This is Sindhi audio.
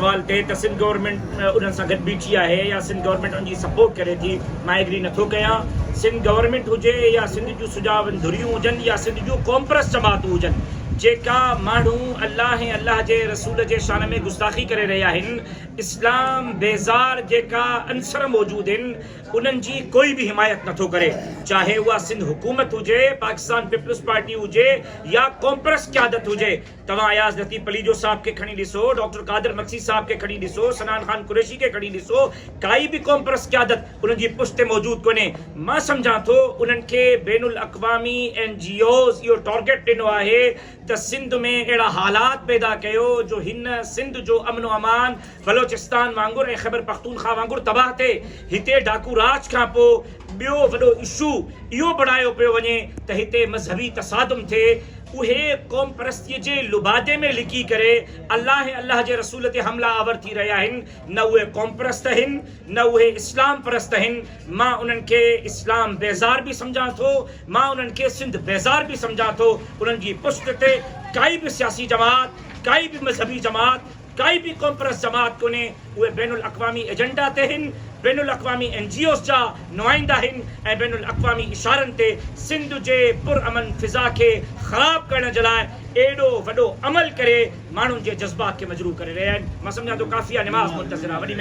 سوال ٽي ته سنڌ گورنمينٽ انهن سان گڏ بيٺي آهي يا سنڌ گورنمينٽ ان جي سپورٽ ڪري ٿي؟ مان ايگري نه ٿو ڪيان. سنڌ گورنمينٽ هجي يا سنڌ جون سجاون ڌريون هجن يا سنڌ جون قومپرست جماعتون هجن جيڪا ماڻهو الله ۽ الله جي رسول جي شان ۾ گستاخي ڪري رهي آهن اسلام بيزار جيڪا عنصر موجود هن انهن جي ڪوئي به حمايت نه ٿو ڪري چاهي اها سنڌ حڪومت هجي پاڪستان پيپلز پارٽي هجي يا قومپرست قيادت هجي توهان اياز لطيف پليجو صاحب کي کڻي ڏسو، ڊاڪٽر قادر مگسي صاحب کي کڻي ڏسو، صنعان خان قريشي کي کڻي ڏسو، ڪائي به قومپرست قيادت انهن جي پشت تي موجود ڪونهي. مان سمجهان ٿو انهن کي بين الاقوامي اين جي اوز اهو ٽارگيٽ ڏنو آهي ته سنڌ ۾ اهڙا حالات پيدا ڪيو جو هن سنڌ جو امن و امان بلوچستان وانگر ۽ خيبرپختونخوا وانگر تباهه ٿئي، هتي ڊاڪو راڄ کان پوء ٻيو وڏو اشو اهو بڻايو پيو وڃي ته هتي مذهبي تصادم ٿئي، اهي قومپرستيء جي لبادي ۾ لڪي ڪري الله ۽ الله جي رسول تي حملا آور ٿي رهيا آهن، نه اهي قومپرست آهن نه اهي اسلام پرست آهن، مان انهن کي اسلام بيزار به سمجهان ٿو، مان انهن کي سنڌ بيزار به سمجهان ٿو، انهن جي پشت تي ڪائي به سياسي جماعت، ڪائي به مذهبي جماعت. ڪائي به ڪومپرس جماعت ڪونهي، اهي بين الاقوامي ايجنڊا تي هن، بين الاقوامي اين جي اوز جا نمائندا هن ۽ بين الاقوامي اشارن تي سنڌ جي پر امن فضا کي خراب ڪرڻ جي لاء ايڏو وڏو عمل ڪري ماڻهن جي جذبات کي مجروح ڪري رهيا آهن.